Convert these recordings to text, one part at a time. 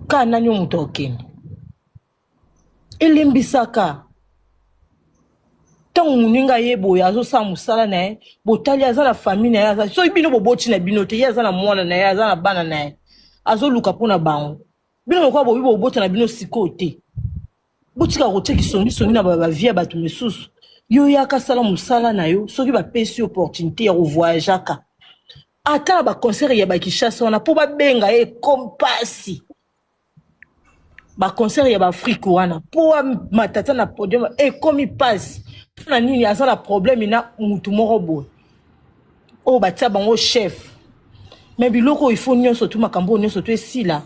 ka nani oyo moto akokende elembisaka ntango moninga ye boye azosala mosala na ye botali aza na famille na ye aza soki bino boboti na bino te ye aza na mwana na ye aza na bana na ye azoluka mpo na bango bino lokola bobi bobota na bino sikoyo te botika kotia kisongisongi na bavie ya bato mosusu yo yaka sala mosala na yo soki bapesi opportunité ya kovoyageaka ata na ba concert ya ba Kinshasa wana po ba benga ye kompasi ba concert ya ba Afrique wana po matata na podium ekomi pasi mpo na nini aza na problème na mutu moko boye oyo batia bango chef me biloko oyo ifo nyonso tu makambo oyo nyonso tu esila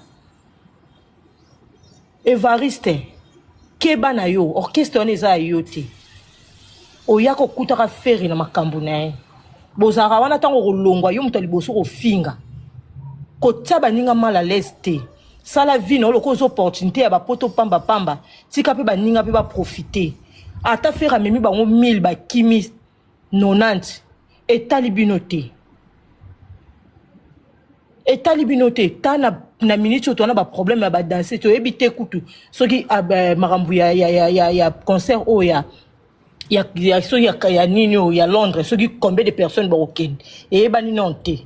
evariste keba na yo orchestre wana eza ya yo te oya kokutaka feri na makambo na ye bozalaka wana ntango okolongwa yo moto ya liboso kofinga kotya baninga mal à l'aise te sala vino oyo lokola oza opportunité ya bapoto pamba pamba tika mpe baninga mpe baprofite ata fere amemi bango 1000 bakimi 90 etali bino te etali bino te ta na, na minute oyo towana baproblème ya badanse toyebi te kutu soki ah, makambo ya, ya, ya, ya, ya concert oyo ya ya, ya, soki ya, ya nini oyo ya londres soki combien de personnes bakokende eyebani nano te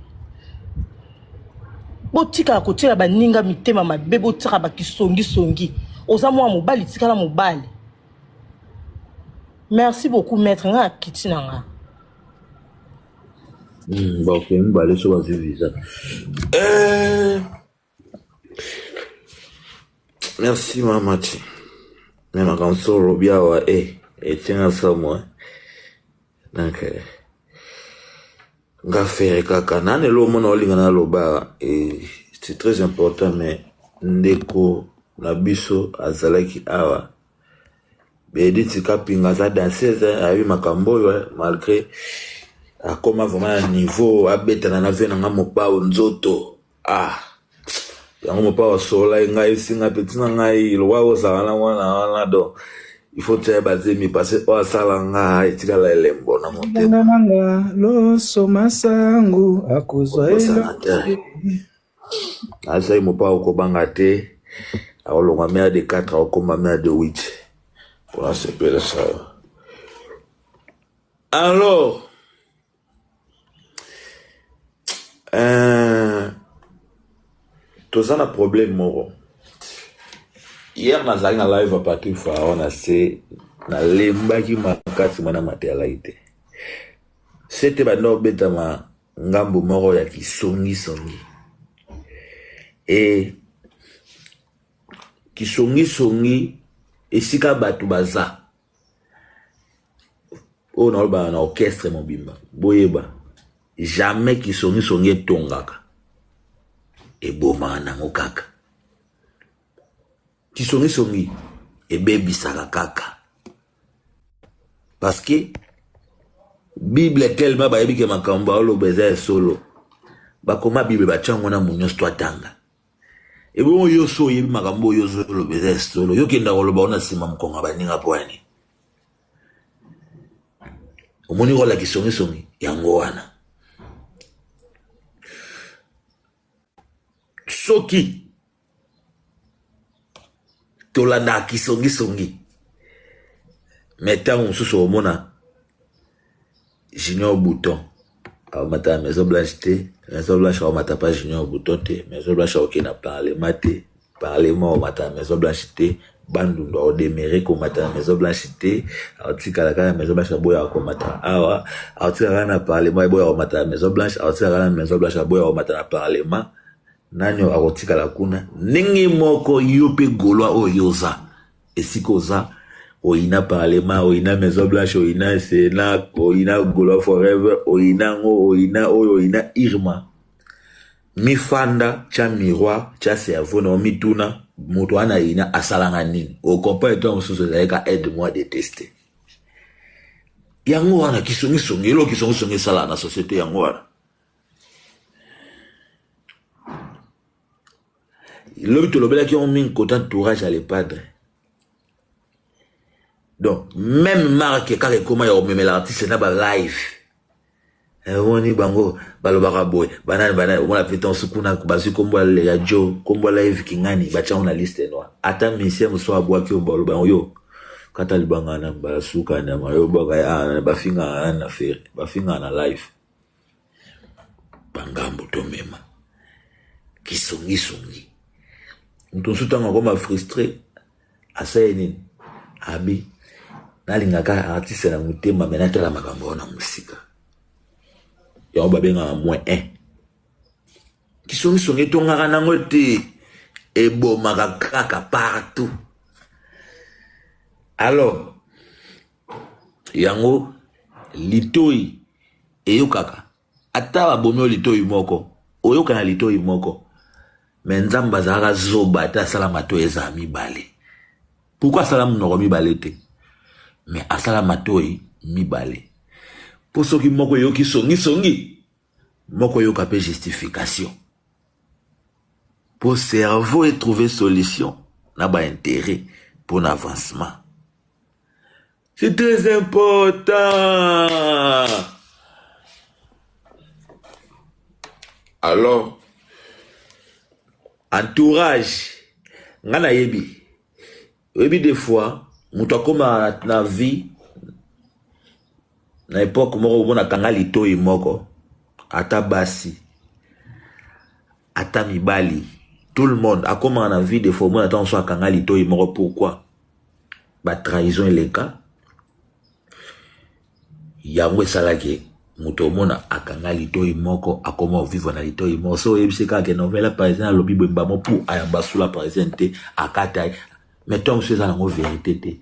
botikaka kotyela baninga mitema mabe botyaka bakisongisongi oza mwana mobali tikala mobali merci beaucoup maître nga akiti na nga hmm, bakei mibale so bazwi visa eh. merci mamati me makambo so olobi awa e eh, etyanga samwa donc eh. Nga ferre kaka nani elo omona olinga na lobara eh, c'est très important mais ndeko na biso azalaki awa Benedict Kapinga aza danseuse ayebi makambo oyo eh, malgré akoma vraiment na niveau abetana na vie na nga mopao nzoto Ah yango mopao asololaki ngai esinga peti na ngai lokola kozala na mwana wana do il faut tia bazemi pase oyo asala nga etikala elembo na motema nanga loso masangu akozwa asai mopao kobanga te akolonga mea de 4 akokoma mea de 8 mpona sepelisa yo alors Euh, toza na problème moko hier nazalaki na live ya patrick faraon na se nalembaki makasi mwana mateyalaki te sete banda obetama ngambo moko ya kisongisongi e kisongisongi esika bato baza oyo nalobaka na orchestre mobimba boyeba jamais kisongisongi etongaka ebomaka nango kaka kisongisongi ebebisaka kaka parce que bible tellement bayebi ke makambo baoloba eza ya solo bakoma bible batya yango na monyosto atanga Ebongo yo so oyebi makambo oyo ozoloba eza ya solo yo kenda koloba ona nsima mokonga baninga mpo ya nini omoni kola kisongisongi yango wana soki tolandaka kisongisongi mais ntango mosusu omona junior bouton aomata na maison blanche te maison blanche aomata pa junior bouton te maison blanche aoke na parlement te parlement aomata na maison blanche te bandundu aodemere komata na maison blanche te aotikala kaka na maison blanche aboya akomata awa aotikala kaka na parlement eboya aomata na maison blanche aotikala kaka na maison blanche aboya aomata na parlement Nani oyo akotikala kuna? Ndenge moko yo mpe Golois oyo yo oza esika oza oyina parlement oyina maison blanche oyina sena oyina gola forever oyina yango oyina oyo oyina irma mifanda tya miroir tya cerveau na omituna moto wana ayina asalanga nini okomprene ntango mosusu ezalika aide moi de teste yango wana kisongisongi eloko kisongisongi esalaka na société yango wana lobi tolobelaki yango mingi kota entourage ya le padre donc meme marke kaka ekoma ya komemela artiste na balive omoni eh, bango balobaka boye banani banani omona mpe ntango sukuna bazwi nkombo ya jo nkombo live kingani batyango na liste noir ata misie mosusu abwaki yo baloba yango yo kata libanga na mbala suka nyama yo bwaka ah, bafingaka nani na fere bafingaka na live bangambo tomema kisongisongi moto mosusu ntango akoma frustre asali nini abi nalingaka artiste na motema me natala makambo wana mosika yango babengaka moins un kisongisongi etongaka nango te ebomaka kaka partout alors Yango litoyi eyokaka ata ba bomi yo litoyi moko oyoka na litoyi moko mais nzambe azalaka zoba te asala matoyi ezala mibale pourquoi asala munoko mibale te mais asala matoyi mibale po soki moko eyoki songi songi moko eyoka pe justification po cerveau e trouve solution na ba interet pona avancement C'est très important. Alors, entourage, nga na yebi. Yebi des fois, moto akoma na vie, na epoque moko omonaka nga litoyi moko, ata basi. Ata mibali tout le monde akomaka na vie de faux omona ntango mosusu akanga litoyi moko pourquoi ba trahison eleka yango esalaki moto omona akanga litoyi moko akoma ovivre na litoyi moko so oyebisi kaka ke novela parisien alobi boye mbamo pour ayamba sula parisien te akata ye mais ntango mosusu eza nango verité te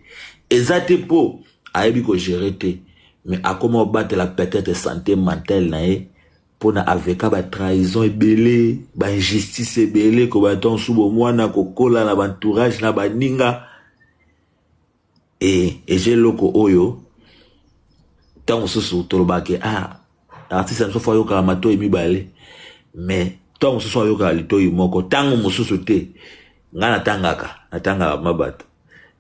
eza te mpo ayebi kogere te mais akoma obatela peut-être sante mentale na ye pona aveka ba trahison ebele ba injustice ebele ko ba ton subo mwana kokola na ba entourage na baninga et eza eloko oyo ntango mosusu tolobaka ke ah artiste na biso fo ayokaka matoi mibale mais ntango mosusu ayokaka litoi moko ntango mosusu te ngai natangaka natangaka ma bato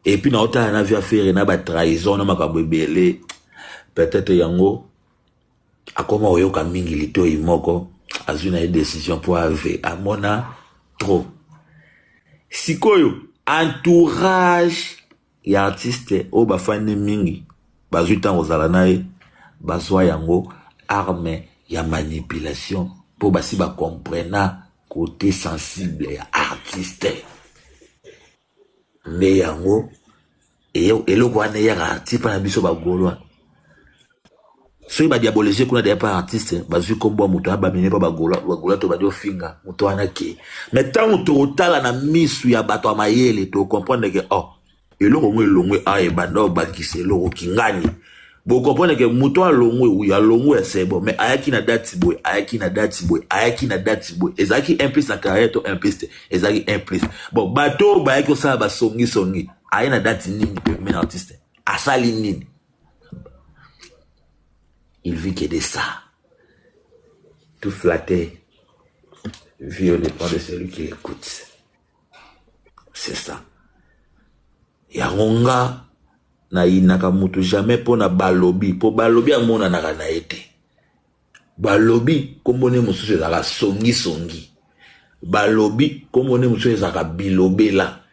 epuis naotala na via fere na batrahison na makambo ebele peut-être yango Akoma koyoka mingi litoyi moko azwi na ye decision mpo ave amona trop sikoyo entourage ya artiste oyo bafandi mingi bazwi ntango kozala na ye bazwa yango arme ya manipulation mpo basi bacomprena kote sensible ya artiste Nde yango eloko wana eyaka ti epai na biso bagolois soki ba diabolise kuna deja epai artiste bazwi nkombo ya moto abamine epai bagolois bagolois to bandi ofinga moto wana ke me ntango tokotala na misu ya bato ya mayele tokomprendre ke oh eloko ngo elongwe awa ebanda obakisa eloko kingani Bo comprendre que moto alongwe oui alongwe ya c'est bon mais ayaki na date boye ayaki na date boye ayaki na date boye ezalaki un plus na carrière to un plus te ezalaki un plus bon bato oyo bayaki kosala basongi songi aye na date nini premier artiste asali nini il vit que de ça tout flatté vie au dépend de celui qui l'écoute c'est ça yango nga Na yinaka mutu jamais pona balobi po balobi amonanaka na ye te balobi kombo ne mosusu ezalaka songi songi balobi kombo ne mosusu ezalaka bilobela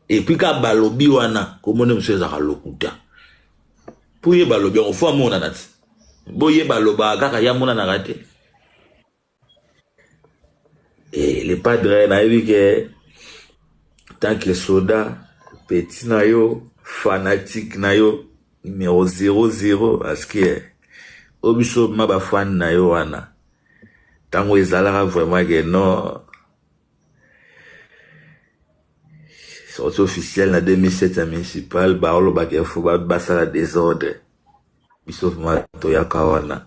epuis ka balobi wana kombo ne mosusu ezalaka lokuta po ye balobi yango fo amonana ti bo ye balobaka kaka ye amonanaka te. Et le padre nayebi ke tant que soda petit na yo fanatique na yo numero zero zero parce que oyo biso ma ba fan na yo wana ntango ezalaka vraiment ke non sorti officiel na 2007 ya municipal baolobaka info basala desordre biso vraiment toyaka wana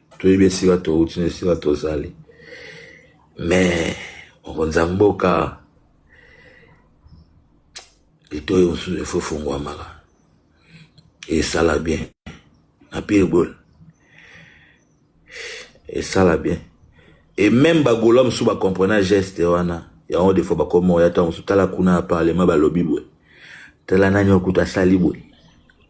toyebi esika touti na esika tozali me mokonzi ya mboka litoyi mosusu efo efungwamaka esala bien na pire gole esala bien e meme bagola mosusu bacomprena geste wana yango defo bakoma oya ntango mosusu tala kuna ya parlement balobi boye tala nani okuta asali boye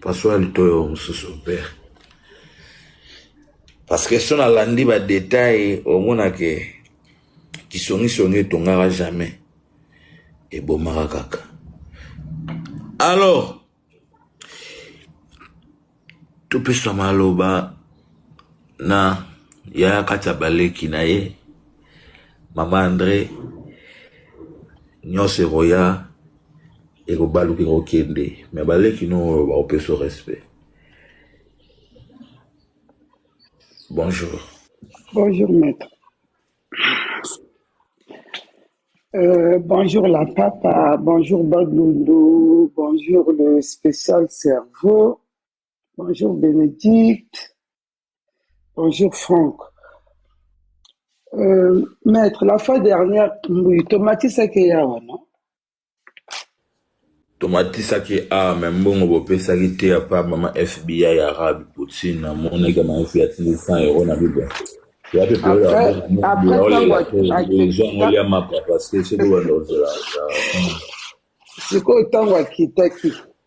Pasua litoyi oyo mususu père parce que soki nalandi ba details okomona que kisongi songi etongaka jamais ebomaka kaka alors topesa maloba na yaya kati ya baleki na ye mama Andre nyonso ekoya. ekobaluka ekokende me baleki no oyo bakopeso respect bonjour bonjour maître euh, bonjour la papa bonjour baglundu bonjour le spécial cerveau bonjour bénédicte Bonjour Franck. Euh, maître, la fois dernière, oui, tomatisaki awa, non? tomatisaki awa me mbongo bopesaki te ya pa mama fbi ya arabe poutine namonaki ya mama fbi atindi 100 euro na bible ya mpe peoleaolelatoezwangoli ya mapa parce que soki obanda ozela sikoyo ntango akitaki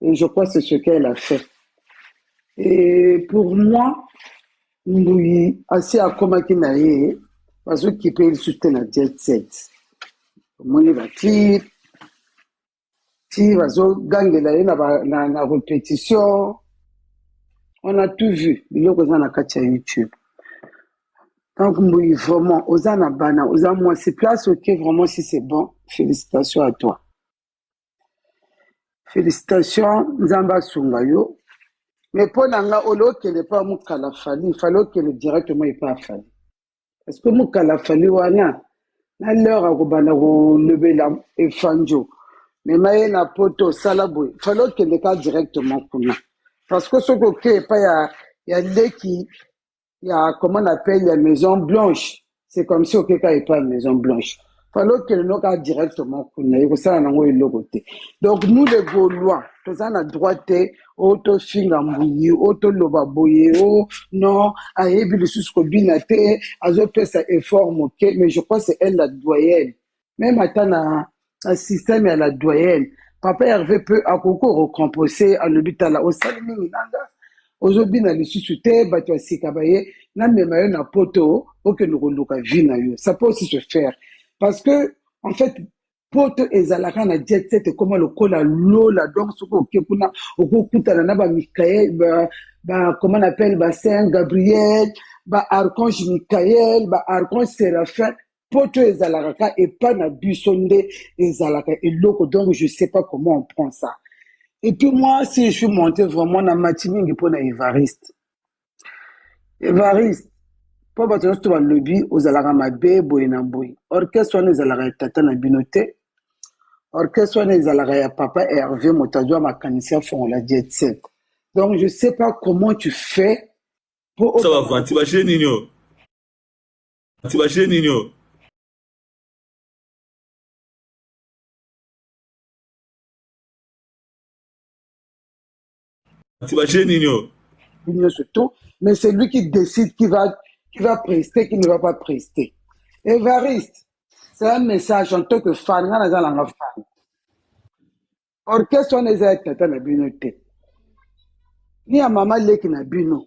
Et je crois c'est ce qu'elle a fait. Et pour moi, Mbuyi, asi akomaki na ye, bazokipe ye lisusu te na jet set. Omoni ba clip, ti bazogangela ye na, ba, na, na repetition. On a tout vu, biloko eza na kati ya YouTube. Donc Mbuyi, vraiment, oza na bana, oza mwasi, place oke, vraiment, si c'est bon, félicitations à toi. félicitation nzambe asunga yo me mpo na nga ole okende mpo ya mokala fali fali okende directement epa fali parce que mokala fali wana na lheure akobanda kolobela efanjo mema ye na poto osala boye fali okende ka directement kuna parce que soki oke epa ya, ya leki ya comment on appelle ya maison blanche c'est comme si okeka epai maison blanche fale okende noka directement kuna ekosala nango eloko te donc nous les gaulois toza na droit te o tofinga mbuyi o toloba boye o non ayebi lisusu kobina te azopesa effort moke mais je crois c'est elle la doyenne meme ata na système ya la doyenne papa herve mpe akoki korecomposer alobi tala osali mingi nanga ozobina lisusu te bato ya sika baye namema yo na poto okende koluka vie na yo ça peut aussi se faire parce que en fait poto ezalaka na jet set ekoma lokola lola donc soki oke kuna okokutana na bamikael ba, ba, comment on appelle ba saint gabriel ba archange mikael ba archange séraphin poto ezalaka ka epa na biso nde ezalaka eloko donc je sais pas comment on prend ça et puis moi si je suis monté vraiment na mati mingi mpo na evariste evariste mpo bato nyonso to balobi ozalaka mabe boye na boye orchestre wana ezalaka ya tata na bino te orchestre wana ezalaka ya papa herve moto azwa makanisi afongola jet set donc je sais pas comment tu fais mpo ça va vanti ba jeunes nini oyo Kasi ba jeux nini oyo? Kasi ba jeux nini oyo? Bino surtout, mais c'est lui qui décide qui va, qui va prester, qui ne va pas prester. Evariste, c'est un message en tant que fan, nga naza nanga fan. Orchestre wana eza ya tata na bino te. Ni ya mama leki na bino.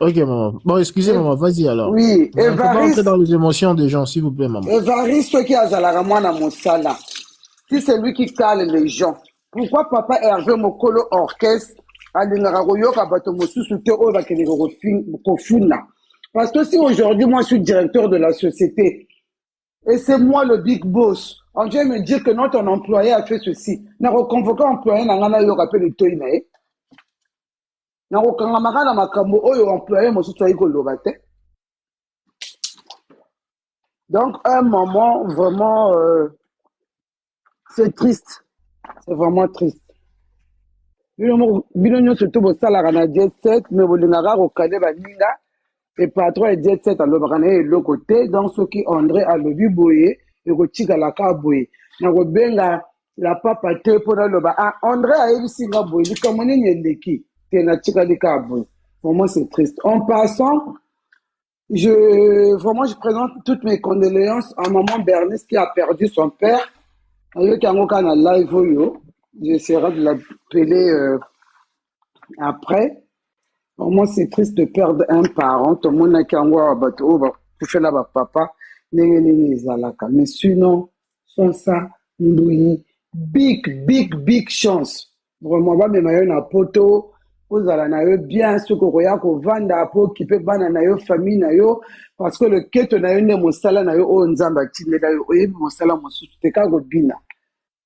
Ok, maman. Bon, excusez, eh, maman, vas-y alors. Oui, Evariste. On va entrer dans les émotions des gens, s'il vous plaît, maman. Evariste qui a Zalara Mwana Moussala. Si c'est lui qui cale les gens, pourquoi papa Hervé Mokolo Orchestre alingaka koyoka bato mosusu te oyo bakendeke kofuna parce que si aujourd'hui moi je suis directeur de la société et c'est moi le big boss on vient me dire que non ton employé a fait ceci nakoconvoke employé na ngai nayoka mpe litoi na ye na kokangamaka na makambo oyo employe mosusu ayi koloba te donc un moment vraiment euh, c'est triste c'est vraiment triste bino nyonso to bosalaka na 17 me bolingaka kokade baninga e patron ya jet set alobaka na ye eloko te donc soki andre alobi boye ekotikala ka boye nakobenga la papa te mpo naloba ah andre ayebisi nga boye likambo nini eleki te natikali ka boye vraiment c'est triste en passant je vraiment je présente toutes mes condoléances à maman bernice qui a perdu son père nayoki yango kaka na live oyo j'essaierai de l'appeler euh, après vraiment c'est triste de perdre un parent tomonaki yango awa bato oyo bakufela bapapa ndenge nini ezalaka mais sinon sans ça mbuyi big big big chance vraiment bamema yo na poto ozala na yo bien soki okoya kovanda mpo okipe bana na yo famille na yo parce que loketo na yo nde mosala na yo oyo nzambe atindela yo oyebi mosala mosusu te kaka kobina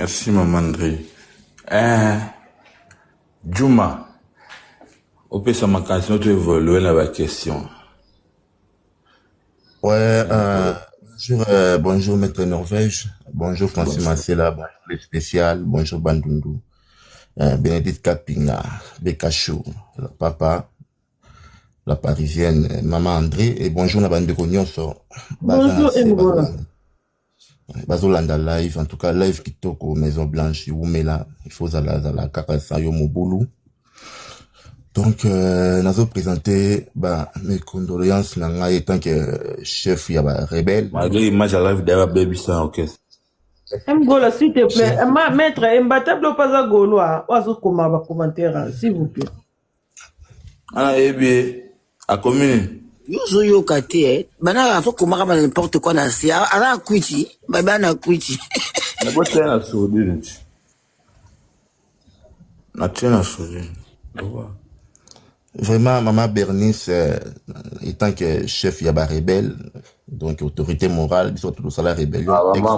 Merci maman Andre. Eh, Juma, opesa makanisi no to evolue na ba question. Ouais, euh, bonjour, euh, bonjour Maître Norvège, bonjour Francis Bonjour. Massela, bonjour le spécial, bonjour Bandundu, euh, Bénédicte Kapinga, Bekachou, la papa, la parisienne, euh, maman André, et bonjour na bandeko nyonso, baza na Bonjour se, baza Engola. na bazolanda live en tout cas live kitoko maison blanche wumela il faut zala zala kaka sa yo mobulu donc euh, nazo présenter ba mes condoléances na ngai etant que euh, chef ya ba rebelle malgré image ya live d'ailleurs baby sans orchestre mgola s'il te plaît ma maître embatable opaza golois oazo koma ba commentaire s'il vous plaît Ana yebi ye akomi nini? Yo ozo yoka te eh. Bana afa komaka bana n'importe quoi na se. Ana kwiti, ba bana kwiti. Na bo tena sodire nti. Na tena sodire. Vraiment, maman Bernice, euh, étant que chef ya ba rebelle, donc autorité morale biso bato tosala rébellion ah,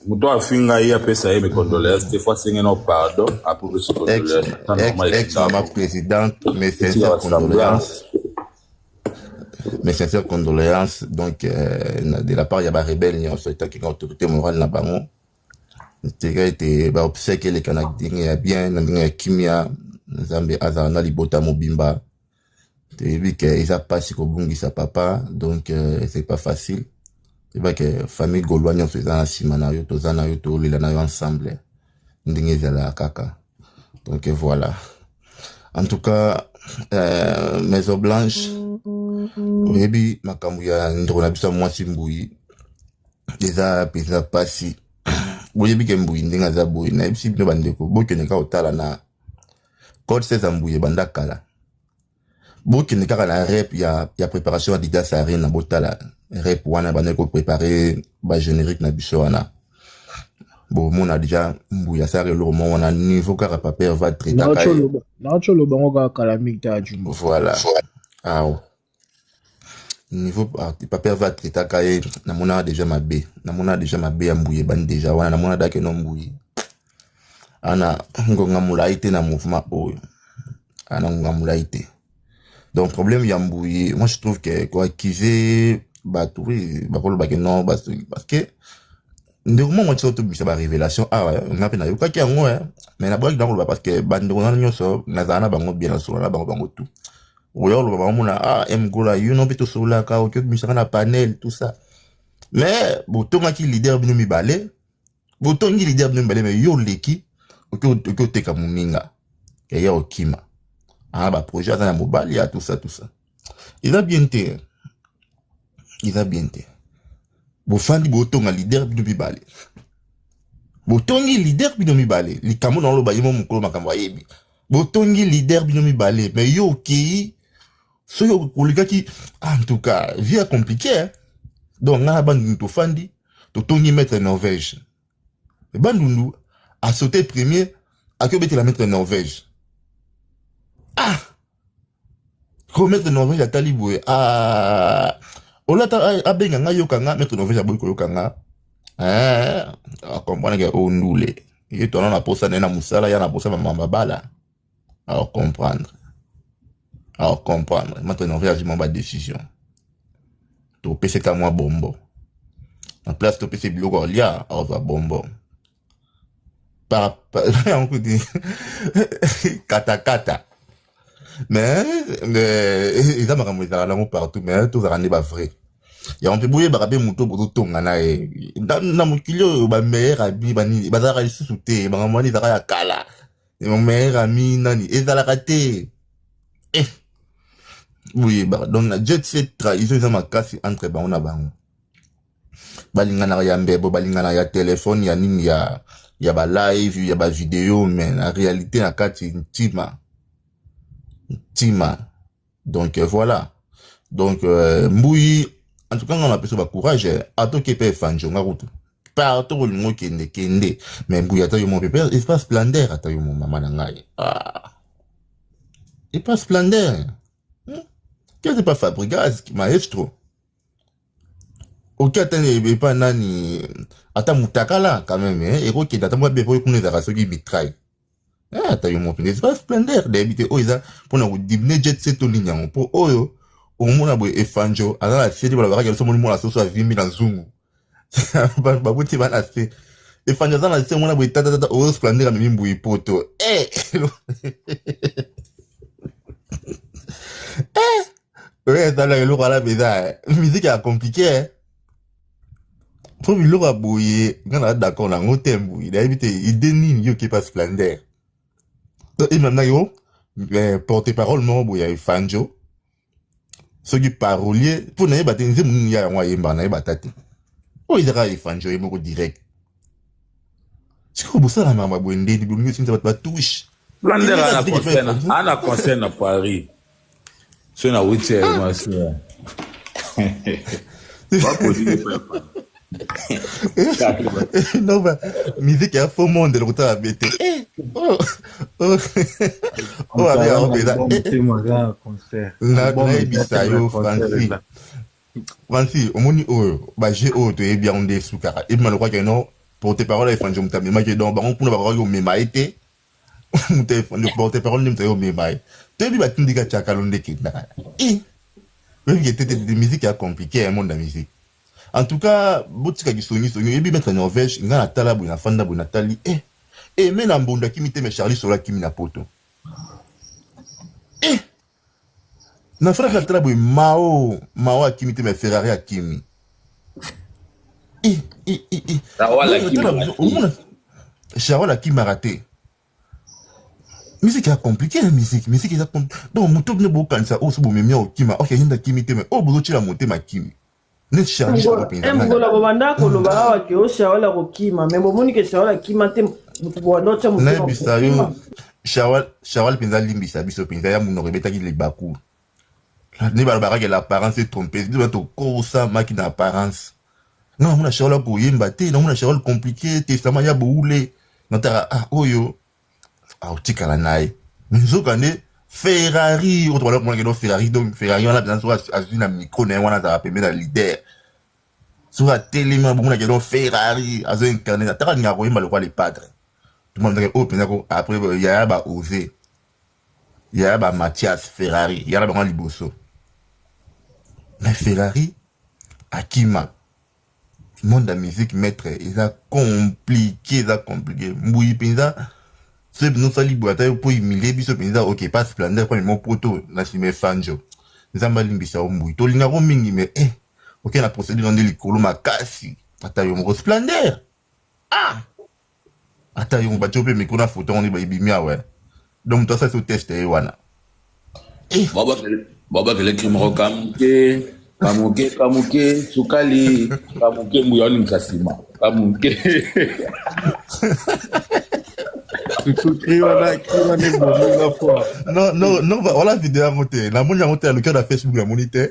moto afinga ye apesa ye micondoléance te fois asenge no pardon apropesi condoléance mama présidente mes sincères condoléances mes sincères condoléances donc euh, de la part ya barebele nyonso etaki na autorité morale na bango tika ete baobsèque eleka na ndenge ya bien na ndenge ya kimia nzambe azala na libota mobimba toyebi ke eza pasi kobungisa papa donc euh, c'est pas facile yeba ke famille golois nyonso eza na nsima na yo toza na yo tolela na yo ensemble ndenge ezalaka kaka donc voilà en tout cas euh, maison blanche oyebi makambo ya ndeko na biso ya mwasi mbuyi eza mpenza mpasi boyebi ke mbuyi ndenge aza boye nayebisi bino bandeko bokende kaka kotala na code 16 ya mbuye banda kala bokende kaka na rep ya, ya préparation ya didas arena botala rep wana bandaki koprépare bagénérique na biso wana bomona deja mbuya asala eloko moko wana niveau kaka paper va traitaka ye naoco lobango kaka kala mingi ta juma voilà awa niveau ah, papa herve atraitaka ye namonaka deja mabe namonaka deja mabe ya mbuye ebandi deja wana namona dake no mbuye ana ngonga molai te na mouvement oyo ana ngonga molai te donc problème ya mbuye moi je trouve que koaccuser bato oui bakolobake non parce que ndeko moko motiso tobimisa barévélation awa ah, nga mpe nayokaki yango eh. mais naboyaki na koloba parce que bandeko nano nyonso nazala na bango bien nasolola na bango bango tout okoya koloba bango mona ah mgola yo no mpe tosololaka oki obimisaka na panel tout ça mais botongaki leader bino mibale botongi leader bino mibale mais yo oleki oki oteka moninga yaya okima aa ah, baprojet aza na mobali ya ah, tout ça tout ça eza bien te eza bien te bofandi botonga leader bino mibale botongi leader bino mibale likambo na oloba ye mo mokolo makambo ayebi botongi leader bino mibale me yo okei soki olikaki ah, en tout cas vie ya compliqué donc ngai na bangi tofandi totongi maître norvège bandundu a sauté premier ake obetela maître norvège ah ko maître norvège atali boye ah olata abenga nga yoka nga maître norvège aboyi koyoka nga eh, akompanaka ondule ye twana na posa naye na mosala ya na posa mamababala Alors comprendre. Alors comprendre. Maintenant, on réagit ma décision. Tu peux c'est à moi bonbon. En place, tu peux c'est biloko olia, alors va bonbon. Par, par, on peut dire, kata kata. Mais, mais, ils ont ramené dans l'amour partout, mais tous ramené bas vrai. ya mpe boyebaka mpe moto bozotonga na ye na mokili oyo bameilleur abi bazalaka lisusu te makambo wana ezalaka ya kala mon meilleur ami nani ezalaka te eh. boyebaka donc na jet set trahison eza makasi entre bango na bango balinganaka ya mbebo balinganaka ya telefone ya nini ya ya balive ya bavideo mais na réalité na kati ntima ntima donc euh, voilà donc euh, mbuyi en tout cas nga napesa ba courage euh, atoki epai efanjo nga kutu partout kolinga okende kende mais mbuyi ata yo mo pepe epa splendeur ata yo mo mama na ngai ah. epa splendeur hmm? kete pa fabrigas maestro oki ata epa nani ata mutakala quand même eh? ekokende ata mwa bepo ekuna ezalaka soki bitrai Ah, ata yo moko mpenza epa splendeur nayebi te oyo eza mpo na kodimine jet set to nini yango mpo oyo omona boye efanjo aza na se nde balobakaki biso omoni mwana soso avimbi na zungu babuti bana se efanjo aza na se omona boye tatatata oyo splendeur amemi mbuyi poto eh! eh! oyo ezalaka eloko wana mpenza miziki ya komplike po biloko ya boye nga na d'accord na yango te mbuyi nayebi te ide nini yo okepa splendeur to ememna yo eh, porte parole moko boye ya efanjo soki parolier mpo nayeba te nzembo nini ya yango ayembaka nayeba ata te oyo ezaka efanjo ye moko direct sikoyo bosala makambo ya boye ndeni bolingi osimisa bato batushe ana concert na paris Soki na wuti ya mwasi ya. non ba musique ya faux monde lokuta ya bete eh, oh, oh. oh, abe yango mpenza eh, nayebisa yo franci franci omoni oyo baje oyo toyebi yango nde esukaka ebima lokwaki no porte parole ya efanje moto amemaki donc bango kuna bakokaki komema ye te le porte parole nde moto ayo mema ye toyebi batindi ka chakalo nde kenda i oyebi ke tete de musique ya compliqué ya monde ya musique en tout cas botika kisongi songi oyebi maître Norvège nga na tala boye na fanda boye na tali eh eh mais na mbondo akimi te mais Charlie Sola akimi na poto eh Na Ferrari na tala boye Mao Mao akimi te mais Ferrari akimi. Shawal akimaka te. Musique ya compliqué na musique musique eza donc moto bino bokanisa oyo so bomemia okima ok yenda kimi te mais oyo bozotyela motema kimi neti charlie solo mpenza eh, mbola bobanda koloba mm. awa ke o oh, shawal akokima me bomoni ke shawal akima te moto bobanda otya motoyebisa yo shawal mpenza alimbisa biso mpenza ya monoko ebetaki libaku nde balobaka ke l'apparence est trompeuse biso tokosamaki na apparence nga namona shawal akoyemba te namona shawal compliqué testament ya boule nataka ah oyo akotikala na ye mais nzokande ferrari oyo tobanda komona keno ferrari donc ferrari wana mpenza soki azwi na micro na ye wana azalaka pembe na leader soki atelemi abomona keno ferrari azo incarne ataka ndenge akoyemba lokola le padre tomonaka oyo mpenza ko après yaya ba ose yaya ba mathias ferrari yaya bango liboso mais ferrari akima monde ya musique maitre eza compliqué eza compliqué mbuyi mpenza soki mpenza osali boye ata yo mpo humilie biso mpenza ok pa splendeur mpo memo poto na nsima efanjo nzambe alimbisa yo mbuyi tolinga yango mingi me eh oke na procédure nde likolo makasi ata yo moko splendeur ah Ata yo batie yo mpe micro na foto yango nde ebimi awa eh. donc moto asalisa yo teste ye wana eh. babakele kimoko kamuke kamuke kamuke sukali kamuke mbuya oningisa nsima kamuke non non non voilà video yango te namoni yango te ya lokia na facebook namoni te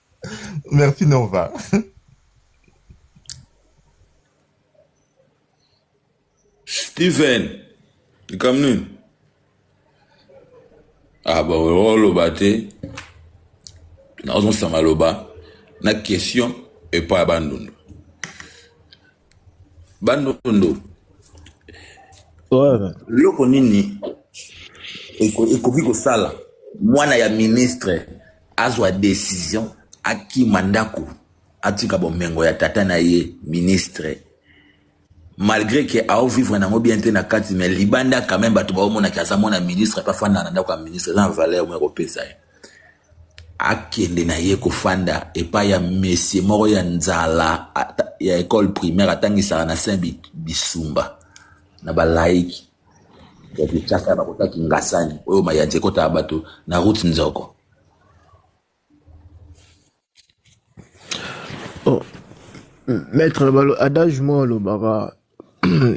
Merci Nova. Steven, likambo nini? Ah ba oloba oh, te. Nazosanga loba na question epai ya bandundu. bandundu loko nini ekoki kosala mwana ya ministre azwa decision akima ndako atika bomengo ya tata na ye ministre malgré que ao vivre nango bien te na kati mais libanda quand même bato baomonaki aza mwana ministre pe afanda na ndako ya ministre eza na valeur moko ekopesa ye akende na ye kofanda epai ya mesie moko ya nzala ya ekole primaire atangisaka na saint bisumba na balaiki ya kinshasa ya bakota kingasani oyo mayanzi ekotaka bato na route nzoko oh. maître balo adage moko alobaka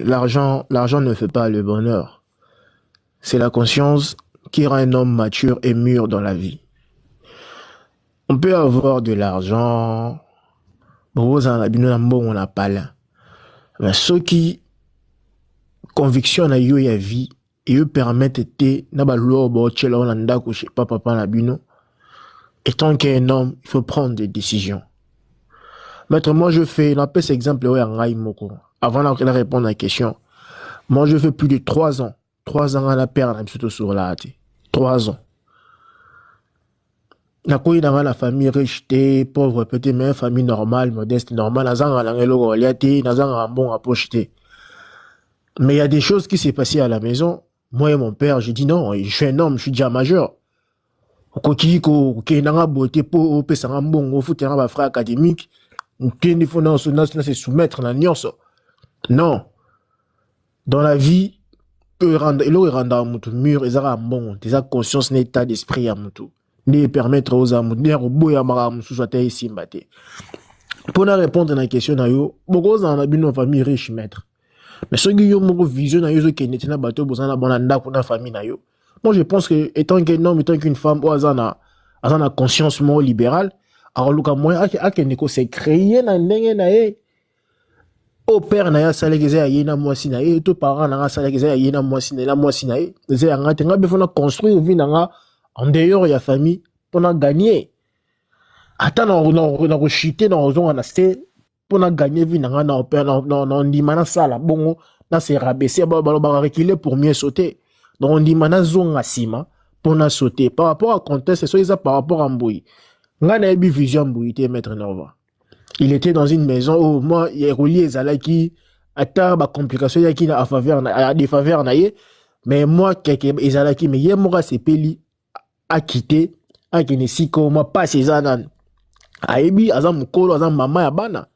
l'argent l'argent ne fait pas le bonheur C'est la conscience qui rend un homme mature et mûr dans la vie. On peut avoir de l'argent, bokozala na bino na mbongo na pala, mais soki conviction na yo ya vie eyo permettre te na balua baotyela yo na ndako chez pa papa na bino, étant qu'un homme, il faut prendre des décisions. Maître, moi je fais, na pèse exemple oyo ya ngai moko. Avant na kela répondre à la question, moi je fais plus de 3 ans. 3 ans na père na biso sur la te. 3 ans. Na koyi na la famille riche te, pauvre peut-être mais famille normale, modeste normale, azanga na ngelo ko liate, nazanga mbonga poche te. Mais il y a des choses qui s'est passé à la maison Moi et mon père, j'ai dit non, je suis un homme, je suis déjà majeur. okoki kokende nga boye te mpo opesa nga mbongo ofute nga bafrai académique nkendi fo nase soumettre na nyonso non dans la vie eloko erandaka motu mur eza kaka mbongo te eza conscience na état d'esprit ya motu nde epermettre ozala moto nde ya koboya makambo mosusu ata esimba te mpo na répondre na question na yo bokozala na bino famille riche maître mais soki yo moko vision na yo ezokende te na bato oyo boza na bona ndako na famille na yo moi je pense que étant qu'un homme étant qu'une femme oyo aza na aza na conscience moko libérale akoluka moyen akende ko se créer na ndenge na ye oyo père na ye asalaki eza ya ye na mwasi na ye to parent na nga asalaki eza ya ye na mwasi na ye na mwasi na ye eza ya nga te nga befo na construire vie na nga en dehors ya famille mpo na gagner ata na koshite na kozonga na se mpo na gagner vie na nga na ndima nasala bongo na se rabaisser balobaka reculer pour mieux sauter donc ndima nazonga nsima mpo na sauter par rapport à conteste soki eza par rapport à mboyi ngai nayebi vision ya mboyi te maître norva il était dans une maison oyo oh, mwa ya kolia ezalaki ata bacomplication eyaki na afaveur na defaveur na ye mais mwa keke ezalaki me ye moko asepeli akite akende esika oyo mwa mpasi eza nani ayebi aza mokolo aza mama ya bana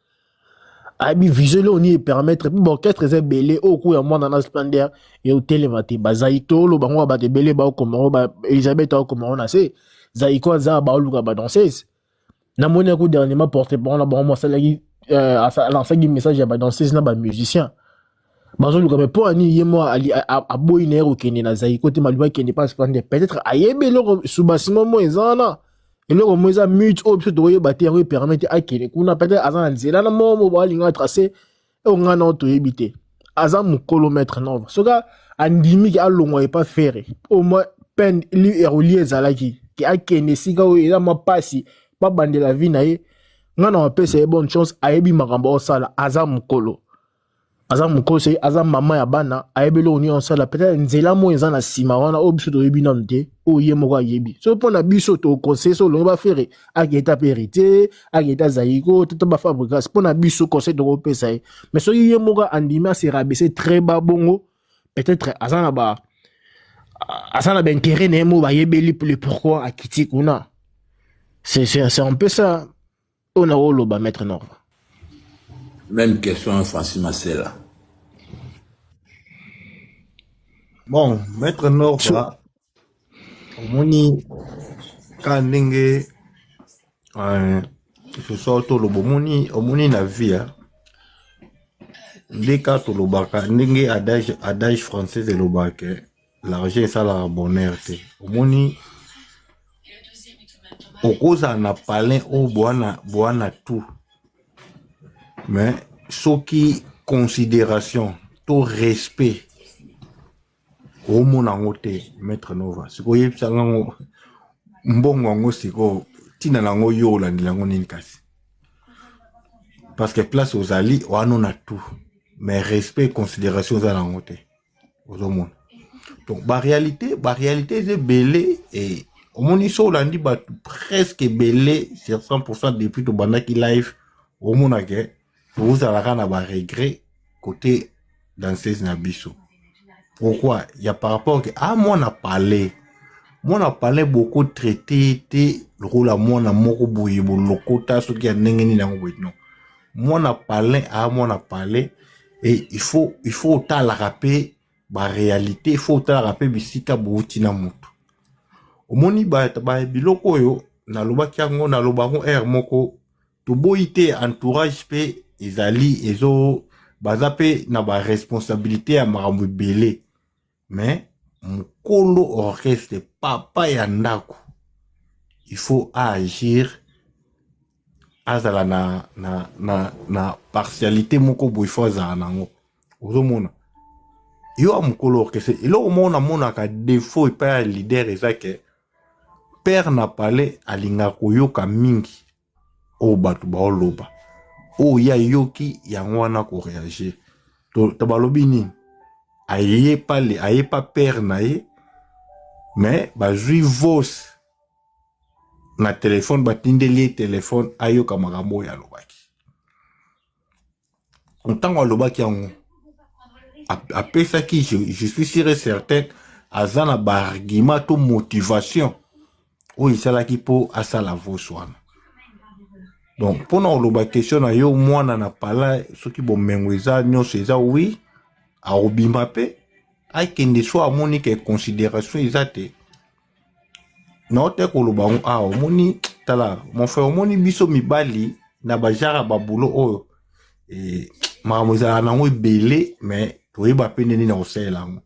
ayebi vision eloko nini epermettre mpo baorchestre eza ebele oyo kuya mwana na splendeur eutelema te bazaitolo bango ya bato ebele baokoma elizabeth aokoma ngo na se zaiko aza baoluka badanseuse na moni yako dernièrement porte parole na bango asalaki euh, alansaki message ya badanseuse na bamusicien bazoluka me mpo ani ye mwa aboyi na ye kokende na zaiko te maluba akende mpasi mpande peut-être ayebi eloko subasimo mo eza wana eloko mo eza mute oyo biso tokoyeba te yango epermete akende kuna peut-être aza na nzela na moko mo boalinga trace oyo ngai nao toyebi te aza mokolo maître nova soki andimi ke alongwa epa fere au moins peine erolie ezalaki ke akende esika oyo eza mwa mpasi babandela vi na ye ngai na wapesa ye bonne chance ayebi makambo aosala aza mokolo aza mokolo soki aza mama ya bana ayebi eloko nini aosala peut-être nzela moi eza na nsima wana oyo biso toyebi nanu te oyo ye moko ayebi soki mpo na biso toconseille so olongi bafere aketa mpe heritier aketa zaiko toto bafabrigas mpo na biso conseil tokopesa ye mais soki ye moko andimi aserabese très ba bongo peut-être aza na ba aza na baintérêt na ye moko bayebeli le pourquoi akiti kuna c'est un peu ça oyo na oloba maître norva même question francis masela bon maître norva omoni ka ndenge euh, soso toloba omoni omoni na vie hein. nde ka tolobaka ndenge adage adage française elobaka l'argent esalaka bonheur te omoni okozala na palin oyo bwana bwana tout mais soki considération to respect omona yango te maître nova sikoyo oyebisa ngango mbongo yango sikoyo ntina na yango yo olandela yango nini kasi parce que place ozali wana na tout mais respect considération oza na yango te ozomona donc baréalité baréalité eza ebele e omoni so olandi bato presque ebele sur 100 pourcent depuis tobandaki live omonake tozalaka na ba regret kote danseuse na biso pourquoi ya par rapport ke a ah, mwana palais mwana palais boko traite te lokola mwana moko boye bolokota soki ya ndenge nini yango boye non mwana palais a ah, mwana palais e il faut il faut otalaka mpe barealité il faut otalaka mpe bisika bouti na motu omoni ba, ba biloko oyo nalobaki yango naloba yango heure moko toboyi te entourage mpe ezali ezo baza mpe na baresponsabilité ya makambo ebele me mokolo orchestre papa ya ndako il faut aagir azala na, na, na, na partialité moko boye fo azala nango ozomona yo ya mokolo orchestre eloko moko namonaka defaut epai ya leader eza ke père na palais alingaka koyoka mingi oyo bato baoloba oyo ye ayoki yango wana koreagir to, to balobi nini aye pa, aye pa père na ye me bazwi vos na telefone batindeli ye telefone ayoka makambo oyo alobaki ntango alobaki yango apesaki je, je suis sûr et certain aza na baargument to motivation oyo esalaki mpo asala vos wana donc mpo na koloba question na yo mwana na pala soki bomengo eza nyonso eza wi akobima mpe akende so amoni ke consideration eza te nao te koloba yango awa omoni tala mon frère omoni biso mibali na bajara babulo oyo eh, makambo ezalaka nango ebele me toyeba mpe nde nini na kosalela yango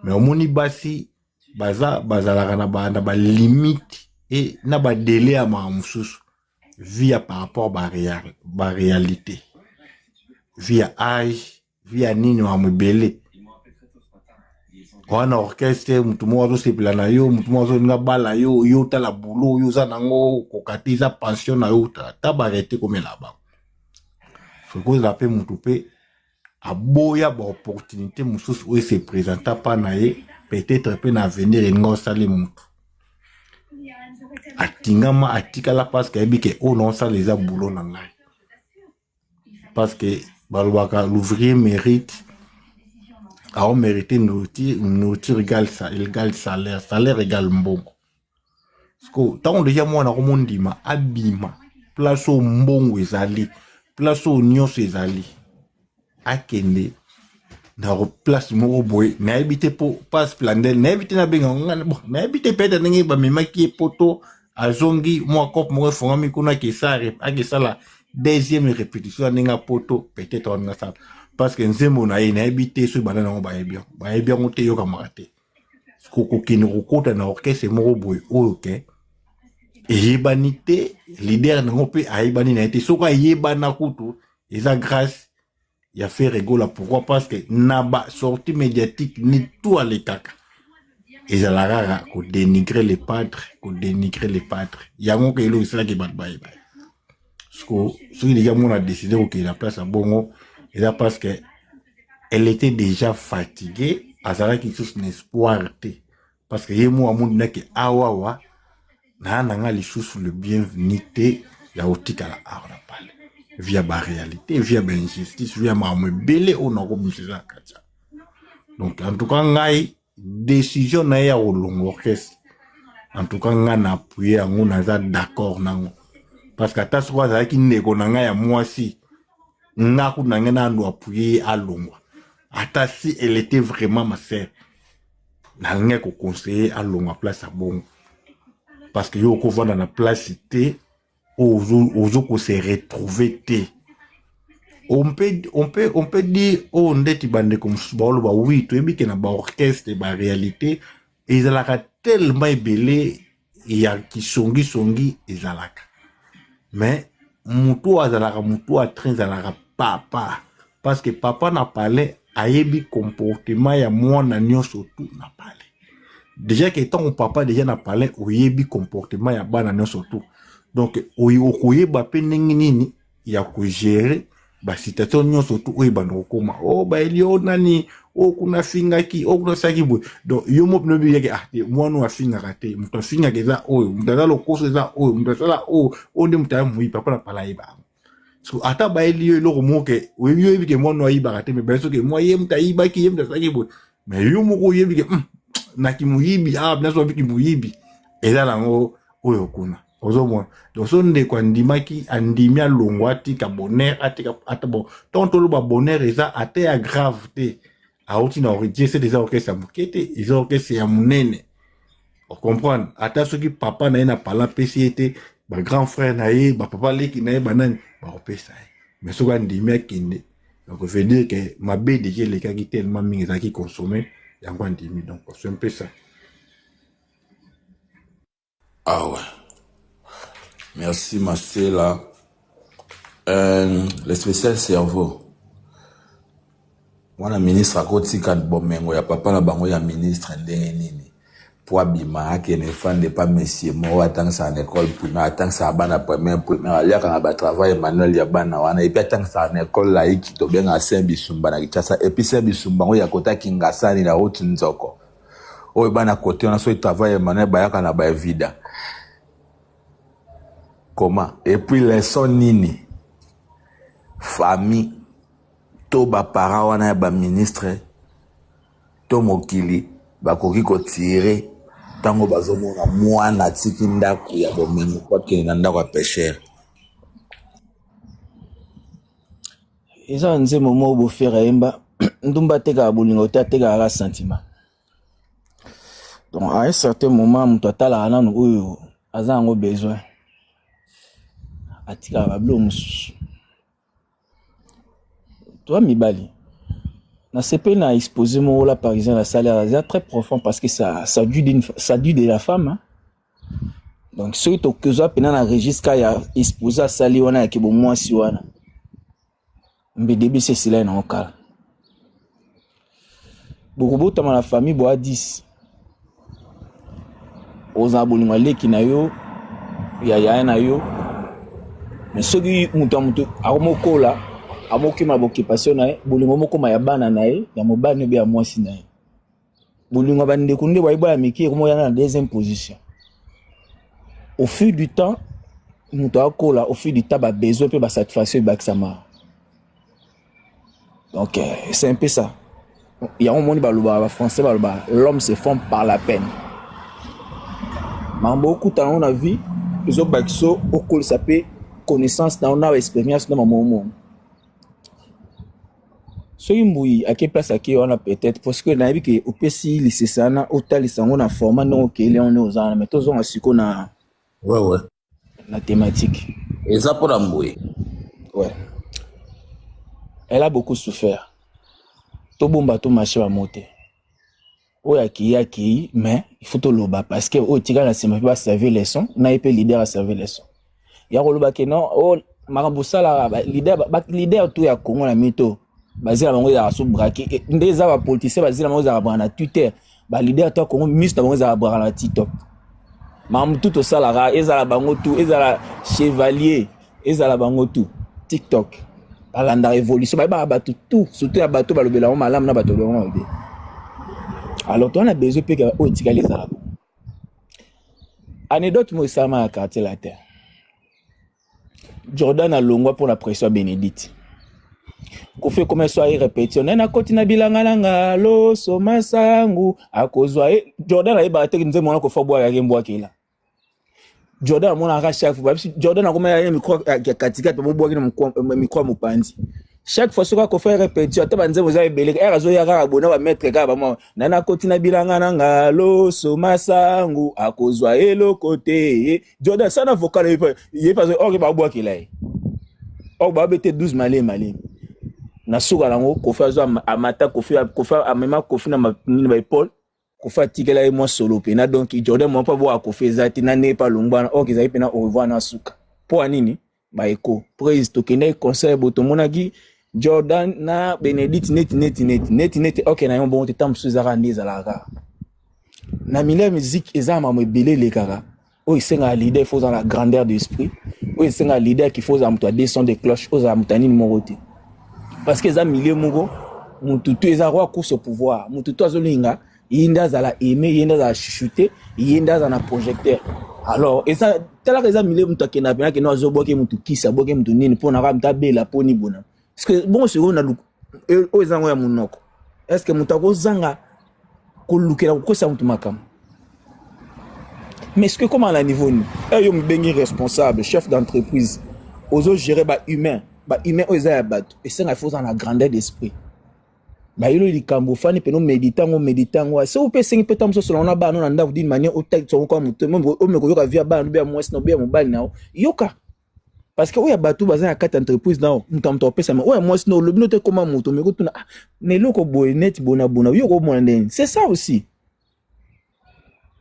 me omoni basi baza bazalaka na ba, na balimite e na badele ya makambo mosusu via par rapport barealité ba via age via nini wa mibele wana orchestre motu moko azosepela na yo motu moko azolinga bala yo yo otala bulo oyo oza nango okoka te eza pension na yo ta barete komela bango sokozala mpe motu mpe aboya baopportunité mosusu oyo ese présenta mpa na ye peut-être mpe na avenir elinga osali motu atingama atikala parce que ayebi ke oyo na osala eza bulo na ngai parce que balobaka l'ouvrier mérite ao mérite nourriture, nourriture égale, égale salaire salaire égale mbongo siko ntango deja mwana yango mondima abima place oyo mbongo ezali place oyo nyonso ezali akende na place moko boye nayebi te mpo pas plandel nayebi te nabenga nayebi te pete ndenge bamemaki ye poto azongi mwa cope moko efongami kuna akesala akesala deuxième répétition ya ndenge ya poto peut-être wana nasala parce que nzembo na ye nayebi te soki bana nango bayebi yango bayebi yango te eyokamaka te kokende kokota na orchestre moko boye oyo ke eyebani te leader nango mpe ayebani na ye te soki ayebana kutu eza grâce ya Ferre Gola pourquoi parce que na ba sortie médiatique ni tout alekaka ezalaka kaka ko dénigrer les padres ko dénigrer les padres yango ke eloko esalaki bato bayeba siko soki deja mona décide kokende na place ya bongo eza parce que elle était déjà fatiguée azalaki lisusu na espoir te parce que ye mo amoni nake awawa naa na nga lisusu le bienvenu te ya kotikala awa na pale via baréalité via bainjustice via makambo ebele oyo nakobimisa eza na kati ya donc en tout cas ngai décision na ye ya kolonga orchestre en tout cas ngai na appuye yango naza d'accord nango parce que ata soko azalaki ndeko na ngai ya mwasi ngai kuna ngai nando appuye ye alongwa ata si elle était vraiment ma sœur nalingaki koconseille alongwa place ya bongo parce que yo okovanda na place te oyo ozo kose retrouve te on peut, on peut, on peut dire oyo oh, ndeti bandeko mosusu baoloba wi toyebi ke na baorchestre baréalité ezalaka tellement ebele ya kisongisongi ezalaka mais motu oyo azalaka motu ya train ezalaka papa parce que papa na palais ayebi comportement ya mwana nyonso tu na palais déjà ke ntango papa déjà na palais oyebi comportement ya bana nyonso tu donc okoyeba mpe ndenge nini ya kogere basitatio nyonso tu oyo ebanda kokoma o oh, bayeli o oh, nani o oh, kuna afingaki o kuna asalaki boye donc yo mo bino biyeke ah te mwana oyo afingaka te moto afingaka eza oyo moto aza lokoso eza oyo moto asala oyo oyo nde moto aya moyipa mpona pala ayebaka so ata bayeli yo eloko moko ke oyebi yo oyebi ke mwana oyo ayibaka te me baye soki mwa ye moto ayibaki ye moto asalaki boye me yo moko oyebi ke hmm, na kimoyibi ah binaso babi kimoyibi eza nango oyo kuna ozomona donc so ndeko andimaki andimi alongwa atika bonheur atika ata bon ntango toloba bonheur eza ata ya grave te auti na origine eza orkestre ya moke te eza orkestre ya monene ocomprendre ata soki papa na ye na pala apesi ye te bagrand frère na ye bapapa leki na ye banani bakopesa ye mais soki andimi akende donc veut dire ke mabe deja elekaki tellement mingi ezalaki consomme yango andimi donc osempesa Awa. Merci Masela. Euh, le spécial cerveau. Mwana ministre akotika bomengo ya papa na bango ya ministre ndenge nini mpo abima akende fande epa mesie moko atangisaka na école primaire atangisaka bana première primaire aliaka na batravail emmanuel ya bana wana epuis atangisaka na école laiki tobengaka saint bisumba na kinshasa epuis saint bisumba yango ya kota kingasani na route nzoko oyo bana kote wana soki travail ya manuel bayaka na ba evida comment epuis leson nini famille to baparent wana ya baministre to mokili bakoki kotire ntango bazomona mwana atiki ndako ya bomengo po akende na ndako ya peshere eza nzembo moko bofere ayemba ndumba atekaka bolingo te atekaka kaka sentiment donc à un certain moment moto atalaka nanu oyo aza yango besoin atikaka babilo mosusu toa mibali nasepeli na expose moko la parisien nasali aza très profond parce que ça, ça, due, ça due de la femme hein? donc soki tokozwa mpena na registre ya expose asali wana ya kibomwasi wana mbidebisi esilai nango kala bokobotama na famille boa 10 ozala bolingo ya leki na yo ya yaya na yo me soki moto ya moto akomokola amokima bokipasio na ye bolingo mokoma ya bana na ye ya mobali obe ya mwasi na ye bolingo ya bandeko nde bayi bana mike ekomoya na deuxième position au fil du temps moto akola au fil du temps babesoin mpe basatisfaction ebakisama donc euh, c'est un peu ça yango omoni balobaka bafrançais balobaka l'homme se forme par la peine makambo okuta yango na vie ezobakisa okolisa mpe connaissance na yo na baexpérience na mamomo soki mbuyi ake place ake wana peut-être parce que nayebi ke opesi lisese wana otalisa yango na format ndenge okeli yango nde oza wana mais tozonga siko na ouais, ouais. na thématique eza mpo na mbuyi ouais. elle a beaucoup souffert tobomba to marché bamo te oyo akei akei mais il faut toloba parce que oyo etikala na nsima mpe baserve leçon na ye mpe leader aserve leçon ya koloba ke non o oh, makambo osalaka leader to ya congo na mito bazela bango ezalaka so brake eh, nde eza bapoliticien bazela bango ezalaka braka na twitter baleader to ya congo miso na bango ezalaka braka na tiktok makambo tu tosalaka ezala bango tu ezala chevalier ezala bango tout tiktok balandaka évolution bayebaka bato tout surtout ya bato balobela yango malamu na bato balobela yango mabe alors towana besoin mpe oyo etikali ezala bo anecdote moko esalama na quartier latin jordan alongwa mpo na pression ya bénédicte kofi ekoma eso aye repetition naye nakoti na bilanga na nga loso masangu akozwa ye jordan ayebaka te nzembo wana kofa bwaka yake mbwakela jordan amonaka chaque fois babisi jordan akomaka ye mikro ya katikati babobwaki na mikro ya mopanzi chaque fois soki akofai repetio ata banzembo eza ebele ere azoya kaka bona bametre kaka bamwa na nakoti na bilanga na nga loso masangu akozwa eloko te jordan sana vocal ye pazo oke babwakela ye oyo babete 12 malemi malemi na suka nango kofi azwa amata kofi amema kofi na baepole kofa atikela ye mwa solo pena donc jordan mwa mpo aboya kofa eza te na ndenge mpe alongwana ok ezali mpena au revoir na suka mpo ya nini baeko praise tokendaki concert bo tomonaki jordan na benedict neti neti neti neti neti ok na yango bongo te ntango mosusu ezalaka nde ezalaka na milieu ya miziki eza ya mamo ebele elekaka oyo esengaka leader ifo ozala na grandeur d'esprit oyo esengaka leader kifo ozala moto ya 200 de cloche ozala moto ya nini moko te parce que eza milieu moko motu tu eza roi course au pouvoir motu tu azolinga ye nde azala aime ye nde azala chuchoute ye nde azala na projecteur alors eza talaka eza milieu moto akenda pena kende azobwake motu kisi abwake motu nini mpo na kaka moto abela mpo ni bona est ce que bongo sikoyo na luku oyo eza yango ya monoko est ce que moto akozanga kolukela kokwesa moto makambo mais soki ekoma na niveau nini eyo eh, mobengi responsable chef d'entreprise ozogere bahumain bahumain oyo eza ya bato esenga ifo oza na grandeur d'esprit bayelo likambo ofani mpena omedite yango omedite yango se ope esengi mpe ntango mosusu wana bana na ndako dini mania otalisa yango kwa moto omeka oyoka vi ya bana obe ya mwasi na obe ya mobali na yo yoka parce que oya bato baza na kati entreprise nao moto ya moto akopesama oya mwasi nao olobi note ekoma moto me kotuna ah, na eloko boye neti bona bona yo okomona ndeni c'est ça aussi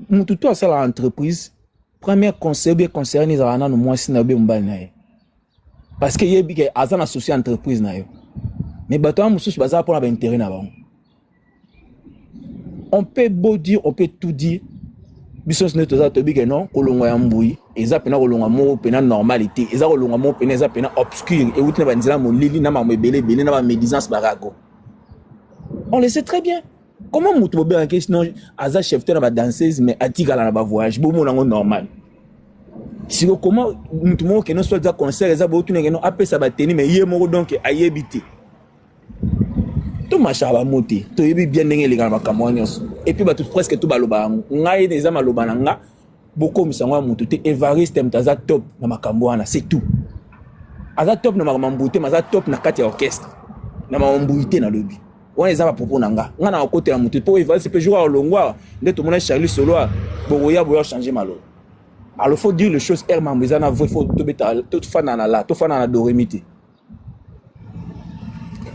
moto to asala entreprise première conseil obe conseillani ezalaka nano mwasi na yo be mobali na ye parce que yebi ke aza na souci entreprise na yo me bato wana mosusu baza mpona bainteret na bango on peut beau dire on peut tout dire biso nyonso nde toza toyebi ke non kolongwa ya mbui eza mpena kolongwa moko mpena normalité eza kolongwa moko mpena eza mpena obscure euti na banzela molili na mambo ebele ebele na bamédisance barago on le sait très bien comment moto bobengaki sinon aza chef te na badanseuse mais atikala na bavoyage bomona yango normal siko koma moto moko keno soit eza concert eza botuneke no apesa bateni mais ye moko donc ayebi te tomashaka bango te toyebi bien ndenge eleka na makambo wana nyonso epuis bato presque to baloba yango ngai ene eza maloba na nga bokomisa yango ya motu te evariste moto aza top na makambo wana c'est tout aza top na makambo mbuyi te ma aza top na kati ya orchestre na makambo mbuyi te nalobi wana eza bapropo na nga ngai nakokotela motu mpo evariste mpe jour ya olongwa nde tomona charlie soloa bokoya boya change maloba alors faut dire les choses heure mambo eza na vrai faut tobeta tofanda na la tofanda na doremi te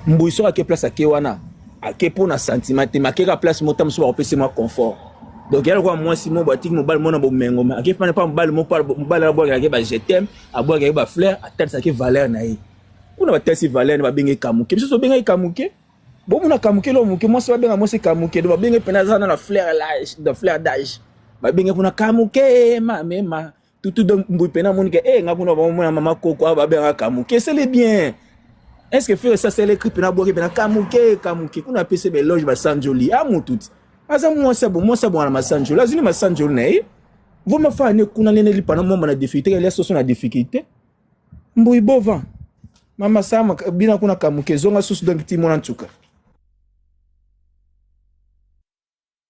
mbuyi soki ake place ake wana ake mpo na sentiment te make kaka place mota mosusu bakopesi mwa confort donc yala kwa mwasi moko batiki mobali mona bomengo me ake pana mpa mobali moko mobali abwakelaki ba jetem abwakelaki ba fleur atalisaki valeur na ye kuna batalisi valeur na babengaki kamuke biso tobengaki kamuke bomona kamuke lo moke mwasi babenga mwasi kamuke do babengaki mpena aza na la fleur d'age babengaki kuna kamuke mamema tutu donc mbuyi pena amoni ke eh nga kuna bamona mama koko awa babengaka kamuke esele bien est ce que fere sasa elekri pena abwaki pena kamuke kamuke kuna apesi beloge basanjoli a mutu ti aza mwasi abo mwasi abonga na masanjoli azwi ni masanjoli na ye voma faa ne kuna nene lipana momba na difficulté kalia soso na difficulté mbuyi bova mama sama bina kuna kamuke zonga susu donc ti mona ntuka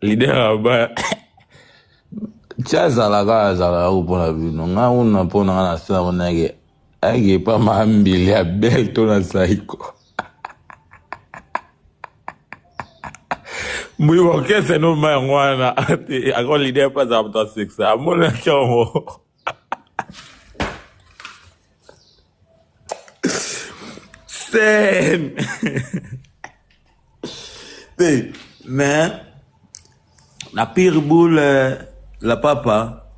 Leader ya ba ti azala kaka azala yako mpo na bino nga kuna mpo na nga na sala mona yake ayeke epa mambili ya bele to na saiko mbuyi orchestre no ma yango wana ako leader mpe azala moto asekisa amonaki yango scène te mais na pire boule euh, la papa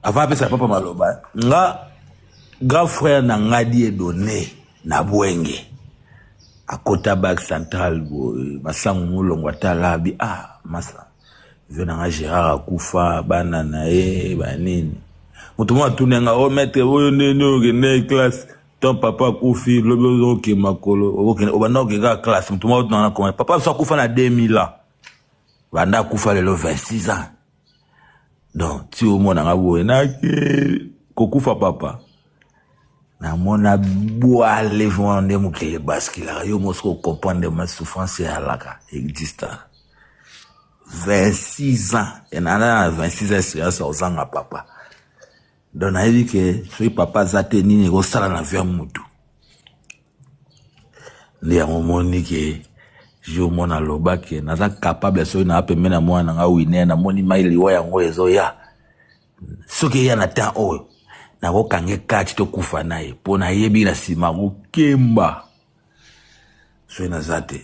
avant apesa papa maloba nga grand frère na nga die donné na bwenge akota bak central boye masango molongo atalabi ah masa Vieux na nga Gerard akufa bana na ye ba nini moto moko atuni nga o oh, maître oyo nde nde okende classe ton papa akufi lobi ozoke makolo obanda oke kaka classe moto moko atunanga na koma papa biso akufa na 2000 ans banda akufa lelo 26 ans donc ti omona nga boye nake kokufa papa na mona bwale vraiment nde mokili ebaskilaka yo mosi kocomprendre ma souffrance eyalaka exista 26 ans enana na 26 ans experience ozanga papa donc nayebi ke soki papa aza te nini ekosala na vie ya mutu nde yango omoni ke jour mwana aloba ke naza capable soki naa pembeni ya mwana na nga wine namoni mai liwa yango ezoya soki eya na temps oyo nakokange kati tokufa na ye mpo nayebi na nsima kokemba soki naza te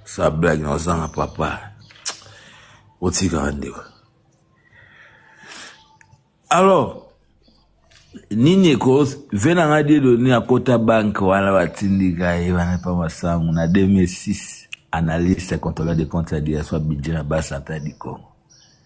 sa blage na ozanga papa otikaka ndeko alors nini eko ve na ngai dedoni akota banke wana batindika ye wana mpa masango na 2006 analyste contrôleur de compte ya diaspora budget na basanta du congo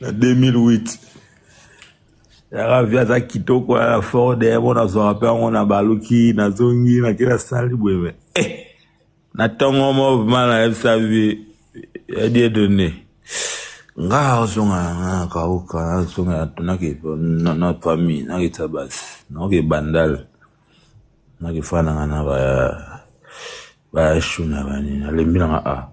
na 2008 yaka vi aza kitoko ya ford yebo nazwaka mpe yango na baluki nazongi nake nasali boye me eh, na ntongo movema nayebisa vi yadie donne nga azonga na kauka nazonga natunaki na famille nakita basi naoke bandal nakifandanga na ba Bashu na bani nalembi nanga a ah.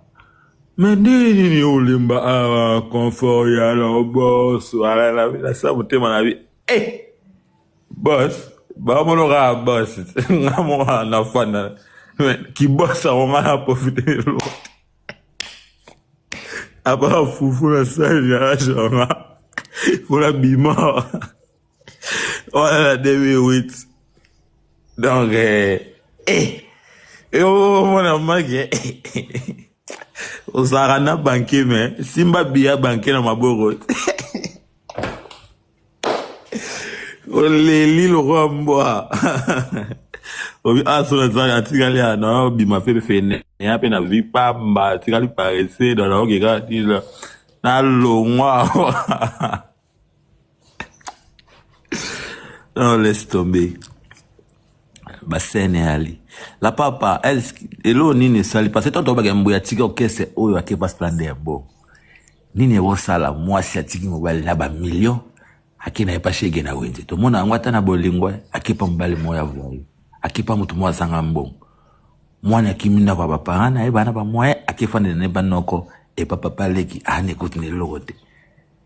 me ndenge nini olemba awa ah, confort ya lobos wala na bilasa motema na bi eh bos bamono kaka bos nga moko na fanda kibos yango nga na profite lote apa fufu na sali na rage yanga mpo na bima Voilà, 2008. Donc, euh, eh, eh, oh, mon amag, eh, ozalaka na banke me simba biya banke na maboko oleli lokola mbwa obi asolo ezali atikali ya na obima mpe fene ya mpe na vi pamba atikali parese na naokeka tila nalongwa Non, laisse tomber. basene ali la papa eloo nini esali parce tanto obaka mbo ya tika okese oyo ake baslande ya bo nini ekosala mwasi atiki mobali na bamillion ake na ye mpa shege na wenze tomona yango ata na bolingo akepa mobali moko ya vwayo akepa moto moko azanga mbongo mwana akimi ndako ya baparent na ye bana bamoye akefandela na ye banoko epa papa leki aani ekoti na eloko te